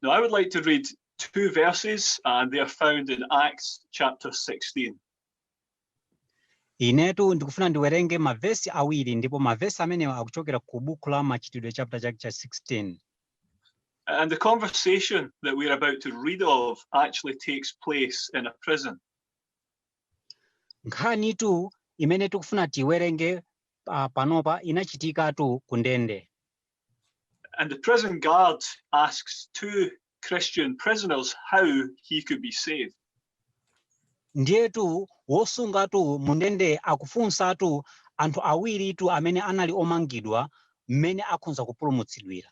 Now, I would like to read two verses, and they are found in Acts chapter 16. inetu ndikufuna ndiwerenge mavesi awiri ndipo mavesi amenewa akuchokera ku buku la machitidwe chapter chake cha 16 And the conversation that we're about to read of actually takes place in a prison. nkhanitu imene tikufuna tiwerenge uh, panopa inachitikatu ku ndende And the prison guard asks two Christian prisoners how he could be saved. ndiyetu wosungatu mundende akufunsatu anthu awiritu amene anali omangidwa mmene akhonza kupulumutsidwira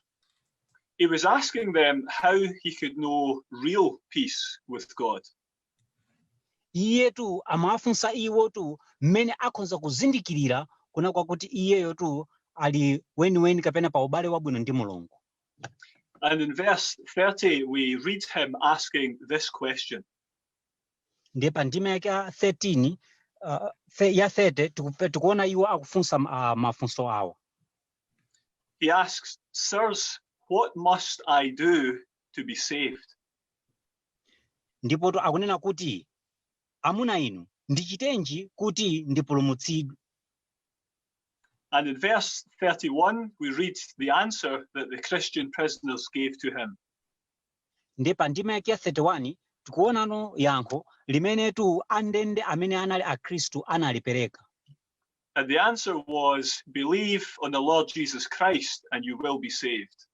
He was asking them how he could know real peace with God. Iyetu amawafunsa iwotu m'mene akhonza kuzindikirira kuna kwakuti iyeyotu ali weniweni kapena pa ubale wabwino ndi Mulungu. And in verse 30 we read him asking this question. Ndiye pa ndime yake ya 13 uh, the, ya 30 tikupe- tikuona iwo akufunsa uh, mafunso awa. He asks, Sirs, what must I do to be saved? Ndipotu akunena kuti, Amuna inu, ndichitenji kuti ndipulumutsidwe? And in verse 31, we read the answer that the Christian prisoners gave to him. Ndiye pa ndime yake 31 tikuonano yankho limenetu andende amene anali Akhristu analipereka. And the answer was, Believe on the Lord Jesus Christ and you will be saved.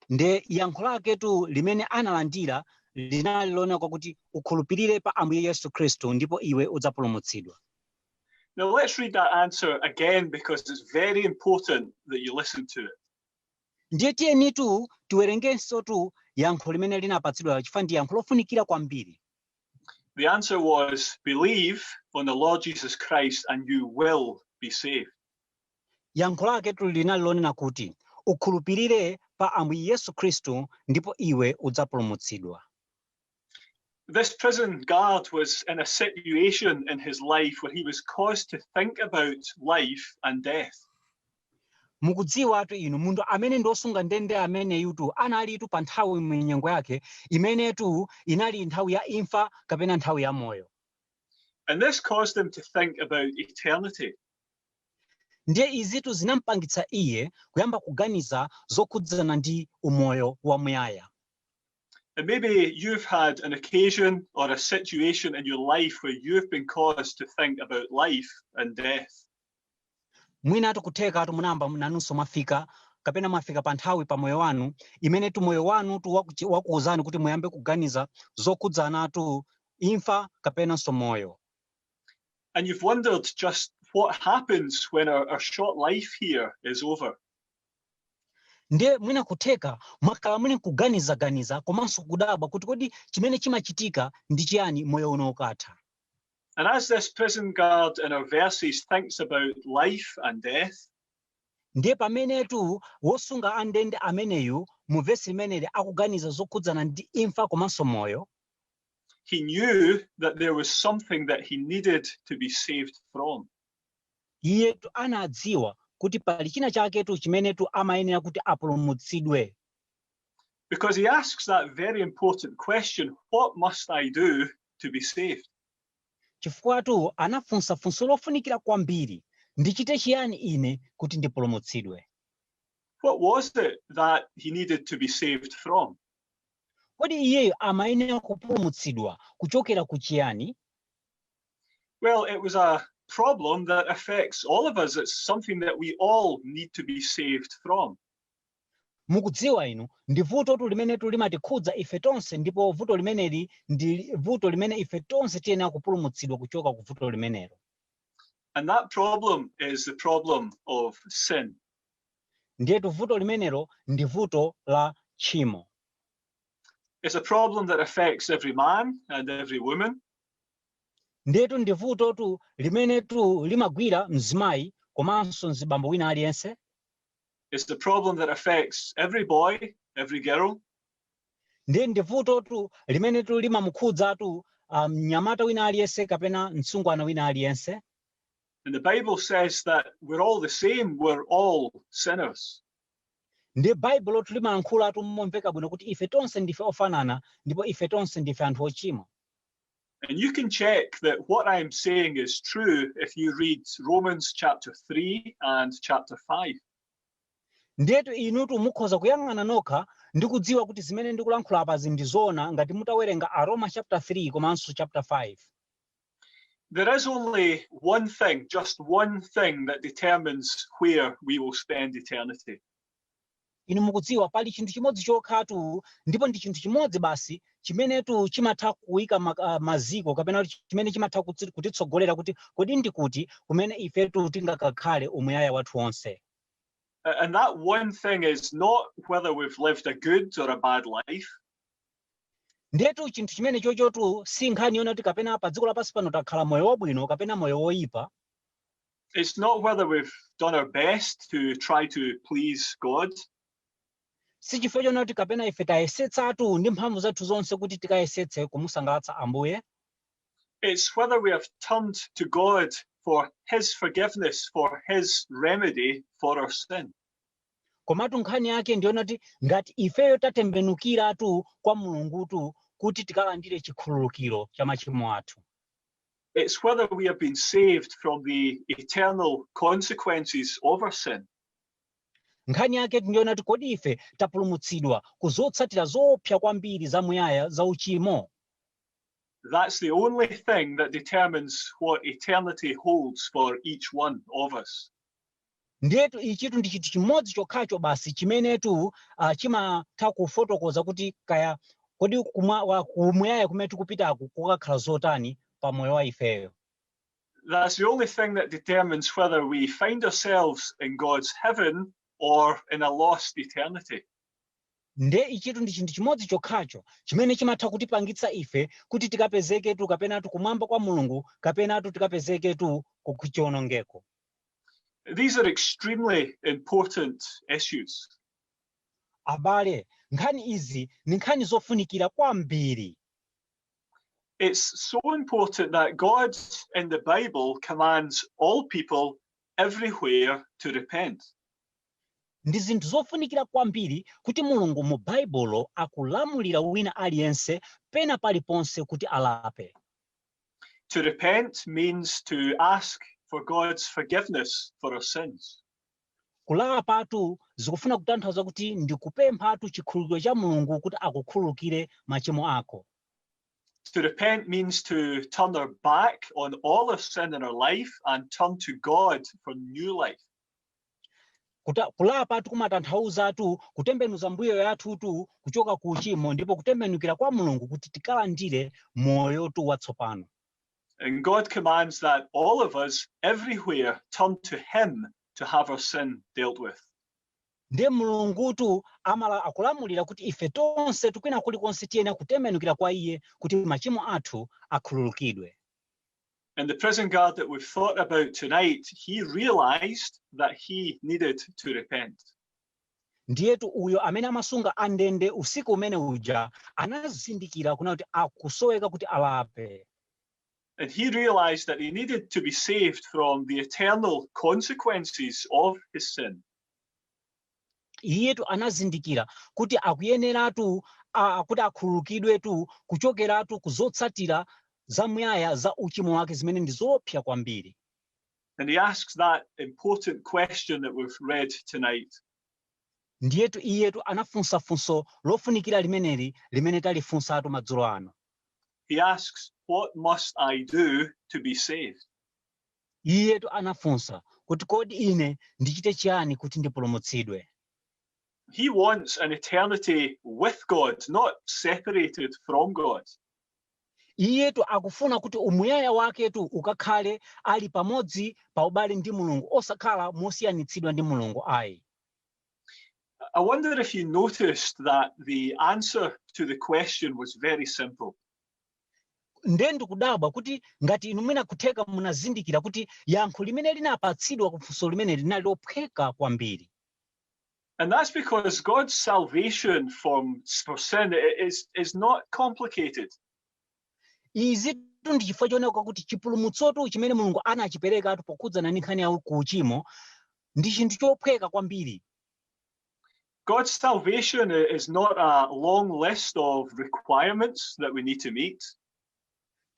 ndiye yankho laketu limene analandira linali lonena kwakuti ukhulupirire pa ambuye yesu khristu ndipo iwe udzapulumutsidwa Now let's read that answer again because it's very important that you listen to it. ndiye tiyenitu tiwerengensotu yankho limene linapatsidwa chifukwa ndi yankho lofunikira kwambiri The answer was believe on the Lord Jesus Christ and you will be saved. Yankho laketu linali lonena kuti, Ukhulupirire pa Ambuye Yesu Khristu ndipo iwe udzapulumutsidwa. This prison guard was in a situation in his life where he was caused to think about life and death. Mukudziwatu inu, munthu amene ndi wosunga ndende ameneyutu analitu pa nthawi mu nyengo yake imenetu inali nthawi ya imfa kapena nthawi ya moyo. And this caused him to think about eternity. Ndiye izitu zinam'pangitsa iye kuyamba kuganiza zokhudzana ndi umoyo wamuyaya. And maybe you've had an occasion or a situation in your life where you've been caused to think about life and death. Mwinatu kuthekatu munayamba nanunso mwafika kapena mwafika pa nthawi pa moyo wanu imenetu moyo wanutu wakuchi- wakuuzani kuti muyambe kuganiza zokhudzanatu imfa kapenanso moyo. and you've wondered just what happens when our, our short life here is over. ndiye mwina kutheka mwakhala muli nkuganizaganiza komanso kudabwa kuti kodi chimene chimachitika ndi chiyani moyo uno ukatha And as this prison guard in our verses thinks about life and death, ndiye pamenetu wosunga andende ameneyu mu vesi limeneli akuganiza zokhudzana ndi imfa komanso moyo He knew that there was something that he needed to be saved from. iyetu anadziwa kuti pali china chaketu chimenetu amayenera kuti apulumutsidwe Because he asks that very important question what must I do to be saved? chifukwatu anafunsa funso lofunikira kwambiri ndichite chiyani ine kuti ndipulumutsidwe What was it that he needed to be saved from? Kodi iyeyo amayenera kupulumutsidwa kuchokera ku chiyani? Well, it was a problem that affects all of us. It's something that we all need to be saved from. Mukudziwa inu, ndi vutotu limenetu limatikhudza ife tonse ndipo vuto limeneli ndi li- vuto limene ife tonse tiyenera kupulumutsidwa kuchoka ku vuto limenelo. And that problem is the problem of sin. Ndiyetu vuto limenelo ndi vuto la tchimo. It's a problem that affects every man and every woman. Ndiyetu ndi vutotu limenetu limagwira mzimayi komanso mzibambo wina aliyense. It's the problem that affects every boy, every girl. Ndiye ndi vutotu limenetu limamukhudzatu ah, mnyamata wina aliyense kapena mtsungwana wina aliyense. And the Bible says that we're all the same, we're all sinners. ndi baibulotu limalankhulatu momveka bwino kuti ife tonse ndife ofanana ndipo ife tonse ndife anthu ochimwa And you can check that what I'm saying is true if you read Romans chapter 3 and chapter 5. ndiyetu inutu mukhoza kuyang'ana nokha ndi kudziwa kuti zimene ndikulankhula apazi ndi zoona ngati mutawerenga aroma chaputala 3 komanso chaputala 5 There is only one thing, just one thing that determines where we will spend eternity. inu mukudziwa pali chinthu chimodzi chokhatu ndipo ndi chinthu chimodzi basi chimenetu chimatha kuika ma- ah, maziko kapena kuti chimene chimatha kutsi- kutitsogolera kuti kodi ndi kuti kumene ifetu tingakakhale umuyaya wathu wonse A- And that one thing is not whether we've lived a good or a bad life. Ndiyetu chinthu chimene chochotu si nkhani yonena kuti kapena pa dziko lapansi pano takhala moyo wabwino kapena moyo woyipa. It's not whether we've done our best to try to please God. Si chifukwa chonena kuti kapena ife tayesetsatu ndi mphamvu zathu zonse kuti tikayesetse kumusangalatsa Ambuye. It's whether we have turned to God for his forgiveness, for his remedy for our sin. komatu nkhani yake ndi yonena kuti ngati ifeyo tatembenukiratu kwa mulungutu kuti tikalandire chikhululukiro cha machimo athu It's whether we have been saved from the eternal consequences of our sin. nkhani yake ndi yonena kuti kodi ife tapulumutsidwa ku zotsatira zoopsa kwambiri zamuyaya za uchimo That's the only thing that determines what eternity holds for each one of us. Ndiyetu ichitu ndi chinthu chimodzi chokhacho basi chimenetu ah, chimatha kufotokoza kuti kaya kodi kumwa- wa- kumuyaya kumene tikupitaku kukakhala zotani pa moyo wa ifeyo. That's the only thing that determines whether we find ourselves in God's heaven or in a lost eternity. nde ichitu ndi chinthu chimodzi chokhacho chimene chimatha kutipangitsa ife kuti tikapezeketu kapenatu kumwamba kwa mulungu kapenatu tikapezeketu ku- kuchiwonongeko These are extremely important issues. Abale, nkhani izi ndi nkhani zofunikira kwambiri. It's so important that God in the Bible commands all people everywhere to repent. Ndi zinthu zofunikira kwambiri kuti Mulungu mu Baibulo akulamulira wina aliyense pena paliponse kuti alape. To repent means to ask for God's forgiveness for our sins. kulapatu zikufuna kutanthauza kuti ndi kupemphatu chikhululukiro cha mulungu kuti akukhululukire machimo ako To repent means to turn our back on all our sin in our life and turn to God for new life. Kulapatu kumatanthauzatu kutembenuza mbuyo yathutu kuchoka ku uchimo ndipo kutembenukira kwa mulungu kuti tikalandire moyotu watsopano And God commands that all of us everywhere turn to him to have our sin dealt with. ndiye mulungutu amala akulamulira kuti ife tonsetu kwina kulikonse tiyenera kutembenukira kwa iye kuti machimo athu akhululukidwe And the prison guard that we've thought about tonight, he realized that he needed to repent. ndiyetu uyo amene amasunga andende usiku umene uja anazindikira kuna kuti akusoweka kuti alape And he realized that he needed to be saved from the eternal consequences of his sin. Iyetu anazindikira kuti akuyeneratu kuti akhululukidwetu kuchokeratu ku zotsatira zamuyaya za uchimo wake zimene ndi zoopsa kwambiri. And he asks that important question that we've read tonight. Ndiyetu iyetu anafunsa funso lofunikira limeneli limene talifunsatu madzulo ano. He asks, What must I do to be saved? Iyetu anafunsa kuti, Kodi ine ndichite chiyani kuti ndipulumutsidwe? He wants an eternity with God, not separated from God. Iyetu akufuna kuti umuyaya waketu ukakhale ali pamodzi pa ubale ndi Mulungu osakhala mosiyanitsidwa ndi Mulungu ayi. I wonder if you noticed that the answer to the question was very simple. nde ndikudabwa kuti ngati inu mwina kutheka munazindikira kuti yankho limene linapatsidwa ku funso limene linali lophweka kwambiri. And that's because God's salvation from, for sin is, is not complicated. Izitu ndi chifukwa chooneka kuti chipulumutsotu chimene Mulungu anachiperekatu pokhudzana ndi nkhani ya ku uchimo ndi chinthu chophweka kwambiri. God's salvation is not a long list of requirements that we need to meet.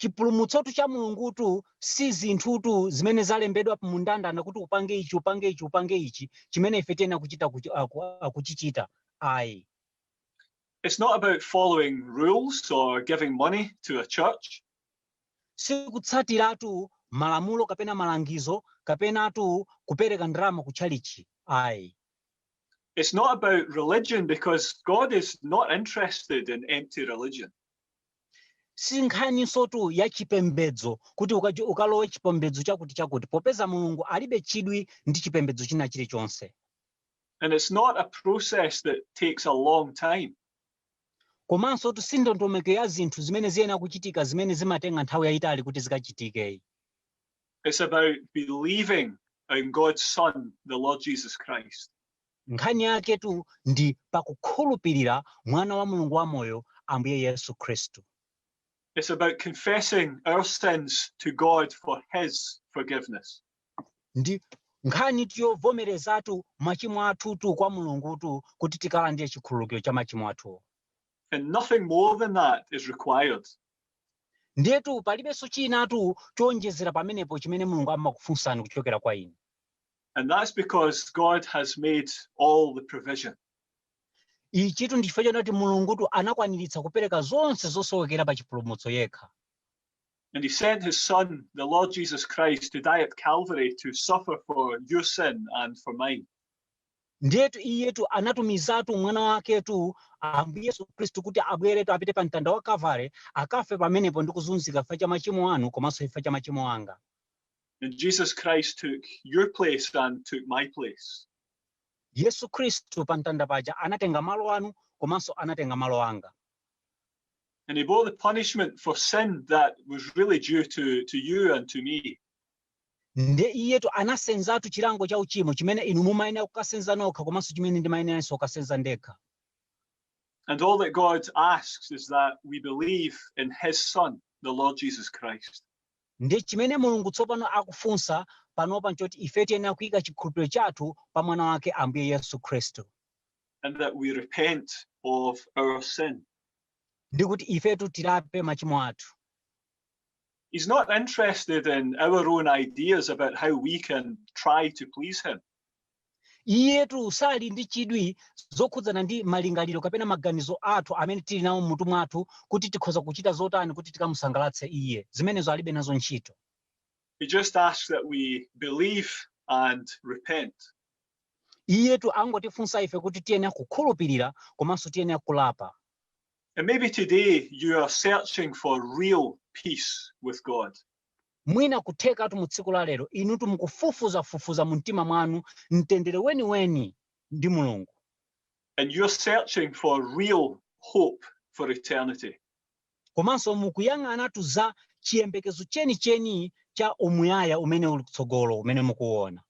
chipulumutsotu cha mulungutu si zinthutu zimene zalembedwa mundandanda kuti upange ichi upange ichi upange ichi chimene ife tiyenera kuchita kuchichita ayi It's not about following rules or giving money to a church. Si kutsatiratu malamulo kapena malangizo kapenatu kupereka ndalama kutchalitchi ayi. It's not about religion because God is not interested in empty religion. si nkhaninsotu ya chipembedzo kuti ukalowe chipembedzo chakuti chakuti popeza mulungu alibe chidwi ndi chipembedzo china chilichonse And it's not a process that takes a long time. Komansotu si ndondomeko ya zinthu zimene ziyenera kuchitika zimene zimatenga nthawi yaitali kuti zikachitike ayi. It's about believing in God's Son, the Lord Jesus Christ. Nkhani yaketu ndi pa kukhulupirira Mwana wa Mulungu wamoyo, Ambuye Yesu Khristu. It's about confessing our sins to God for His forgiveness. Ndi nkhanitu yovomerezatu machimo athutu kwa Mulungutu kuti tikalandire chikhululukiro cha machimo athuwo. And nothing more than that is required. Ndiyetu palibenso chinatu choonjezera pamenepo chimene Mulungu amakufunsani kuchokera kwa inu. And that's because God has made all the provision. Ichitu ndi chifukwa choti Mulungutu anakwaniritsa kupereka zonse zosowekera pa chipulumutso yekha. And he sent his Son, the Lord Jesus Christ, to die at Calvary to suffer for your sin and for mine. ndiyetu iyetu anatumizatu mwana waketu ambuye yesu khristu kuti abweretu apite pa mtanda wa kavale akafe pamenepo ndi kuzunzika chifukwa cha machimo anu komanso chifukwa cha machimo anga And Jesus Christ took your place and took my place. yesu khristu pa mtanda paja anatenga malo anu komanso anatenga malo anga And he bore the punishment for sin that was really due to, to you and to me. nde iyetu anasenzatu chilango cha uchimo chimene inu mumayenera kukasenza nokha komanso chimene ndimayeneranso kukasenza ndekha And all that God asks is that we believe in his son, the Lord Jesus Christ. nde chimene mulungu tsopano akufunsa panopa nchoti ife tiyenera kuyika chikhulupiriro chathu pa mwana wake ambuye yesu khristu and that we repent of our sin. ndi kuti ifetu tilape machimo athu He's not interested in our own ideas about how we can try to please him. iyetu sali ndi chidwi zokhudzana ndi malingaliro kapena maganizo athu amene tili nawo mmutu mwathu kuti tikhoza kuchita zotani kuti tikamusangalatse iye zimenezo alibe nazo ntchito He just asks that we believe and repent. Iyetu angotifunsa ife kuti tiyenera kukhulupirira komanso tiyenera kulapa. And maybe today you are searching for real peace with God. Mwina kuthekatu mu tsiku la lero inutu mukufufuzafufuza mu mtima mwanu mtendere weniweni ndi Mulungu. And you're searching for real hope for eternity. Komanso mukuyang'anatu za chiyembekezo chenicheni cha umuyaya umene uli kutsogolo umene mukuona.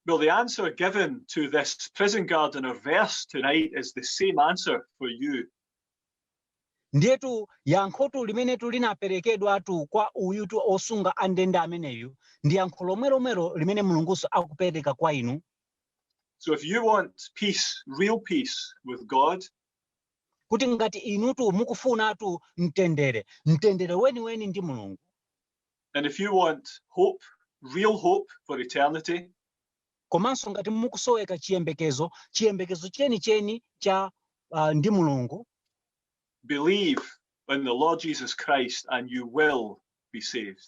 Well, the answer given to this prison guard in our verse tonight is the same answer for you. ndiyetu yankhotu limenetu linaperekedwatu kwa uyutu osunga andende ameneyu ndi yankho lomwelomwelo limene mulungunso akupereka kwa inu So if you want peace, real peace with God, kuti ngati inutu mukufunatu mtendere mtendere weniweni ndi mulungu And if you want hope, real hope for eternity, komanso ngati mukusoweka chiyembekezo chiyembekezo chenicheni cha uh, ndi mulungu believe in the lord jesus christ and you will be saved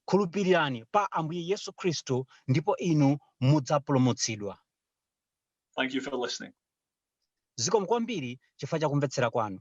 khulupirirani pa ambuye yesu khristu ndipo inu mudzapulumutsidwa thank you for listening zikomo kwambiri chifukwa cha kumvetsera kwanu